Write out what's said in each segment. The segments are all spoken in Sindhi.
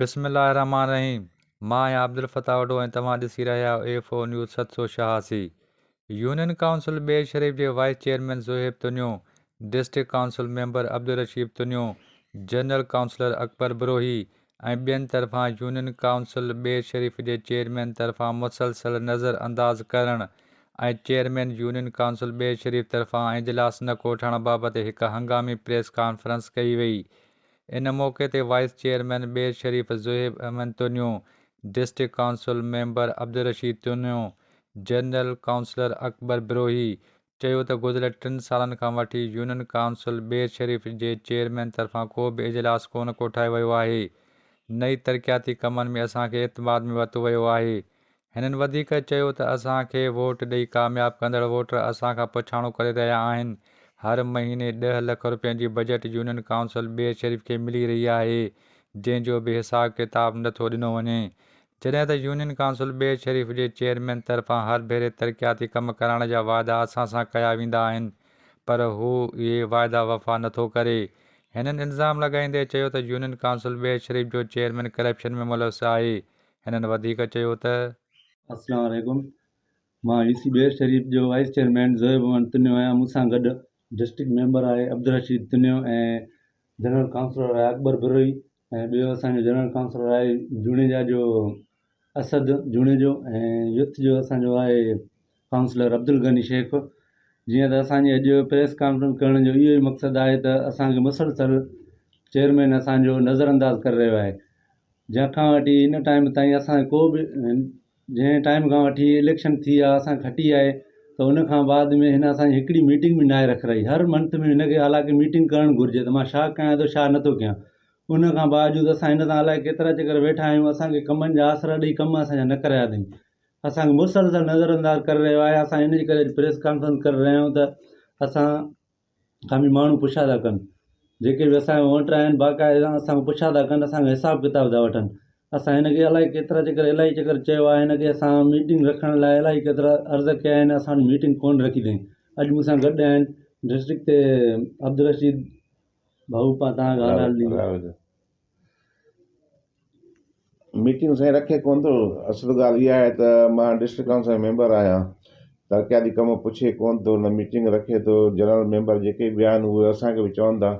بسم الله الرحمٰن الرحيم مان آهيان عبدالفتاح وڍو ۽ توهان ڏسي رهيا آهيو ايف او نيوز ست سو ڇهاسي يونين ڪائونسل ٻير شريف جي vice chairman Zohaib Tunio, district council member Abdulrashid Tunio, general councillor Akbar Brohi, ۽ ٻين طرفان يونين ڪائونسل بير شريف جي چيئرمين طرفان مسلسل نظر انداز ڪرڻ ۽ chairman union council Bair Sharif طرفان اجلاس نه ڪوٺڻ بابت هڪ هنگامي پريس ڪانفرنس ڪئي وئي ان موقعي تي vice chairman Bair Sharif Zohaib Ahmed Tunio, district council member Abdulrashid Tunio, general councillor Akbar Brohi, چيو ته گذريل ٽن سالن کان وٺي يونين ڪائونسل بير شريف جي چيئرمين طرفان ڪو به اجلاس ڪونه ڪوٺايو ويو آهي نه ئي ترقياتي ڪمن ۾ اسان کي اعتماد ۾ ورتو ويو آهي. هنن وڌيڪ چيو ته اسان کي ووٽ ڏئي ڪامياب ڪندڙ ووٽر اسان کان پڇاڻو ڪري رهيا آهن، هر مهيني ڏهه لک روپين جي budget union council Bair Sharif کي ملي رهي آهي جنهن جو به حساب ڪتاب نٿو ڏنو وڃي، جڏهن ته يونين ڪائونسل بير شريف جي چيئرمين طرفان هر ڀيري ترقياتي ڪم ڪرائڻ جا واعدا اسان سان ڪيا ويندا آهن پر هو اهي واعدا وفا نٿو ڪري. هنن الزام لڳائيندي چيو ته يونين ڪائونسل بير شريف جو چيئرمين ڪرپشن ۾ ملوث آهي. هنن وڌيڪ چيو ته. السلام عليڪم مان يو سي بير شريف جو وائيس چيئرمين زويب احمد تنيو آهيان مون سان گڏ ڊسٽرڪٽ ميمبر آء عبدالرشيد تنيو ۽ جنرل ڪائونسلر آء اڪبر بروهي ۽ ٻيو اسان جو جنرل ڪائونسلر آهي جوڻيجا جو اسد جوڻيجو ۽ يوٿ جو اسان جو آهي ڪائونسلر عبدالغني شيخ جيئن ته اسان جي اڄ پريس ڪانفرنس ڪرڻ جو اهو ئي مقصد آهي ته اسان کي مسلسل چيئرمين اسان جو نظر انداز ڪري رهيو آهي جنهن کان وٺي هن ٽائيم تائين اسان ڪو به جنهن ٽائيم کان وٺي اليڪشن ٿي آ اسان کٽي آهي ته ان کان بعد ۾ هن اسان جي هڪڙي ميٽنگ به ناهي رکرائي هر منٿ ۾ هن کي حالانڪه ميٽنگ ڪرڻ گهرجي ته مان شا ڪيان ٿو شا نٿو ڪيان ان کان باوجود اسان هن سان الائي ڪيترا چڪر ويٺا آهيون اسان کي ڪمن جا آسرا ڏئي ڪم اسان جا نه ڪرايا اٿئي اسان کي مسلسل نظر انداز ڪري رهيو آهي اسان ان جي ڪري پريس ڪانفرنس ڪري رهيا آهيون ته اسان کان به ماڻهو پڇا ٿا ڪن جيڪي به اسان جا ووٽر آهن باقاعده اسان کان پڇا ٿا ڪن اسان کان حساب ڪتاب ٿا وٺن اسان هن کي الائي ڪيترا چڪر الائي چڪر چيو آهي هن کي اسان ميٽنگ رکڻ لاء الائي ڪيترا عرض ڪيا آهن اسان وٽ ميٽنگ ڪونه رکي اٿائين اڄ مون سان گڏ آهن ڊسٽرڪٽ تي عبدالرشيد ڀائو پاڻ تان ڳالهه ميٽنگ سائين رکي ڪونه ٿو اصل ڳالهه اها آهي ته مان ڊسٽرڪٽ ڪائونسل جو ميمبر آهيان ترقياتي ڪم پڇي ڪونه ٿو نه ميٽنگ رکي ٿو جنرل ميمبر جيڪي به آهن اهي اسانکي به چون ٿا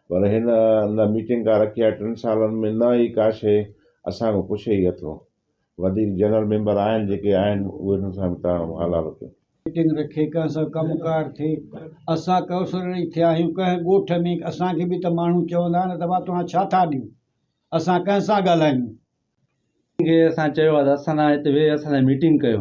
پر هن نه ميٽنگ ڪا رکي آهي ٽن سالن ۾ نه ئي ڪا شيء اسانکو پڇي ئي اٿو وڌيڪ جنرل ميمبر آهن جيڪي آهن اهي نون سان به تاڻو هالا رکيون. ميٽنگ رکي ڪنهن سان ڪم ڪار ٿئي اسان ڪئوسرڙي ٿيا آهيون ڪنهن ڳوٺ ۾ اسان کي به ته ماڻهو چوندا نه ته ڀا توهان ڇا ٿا ڏيون اسان ڪنهن سان ڳالهايون. ڪنهن کي اسان چيو آهي ته اسان سان هتي ويهي اسان سان ميٽنگ ڪيو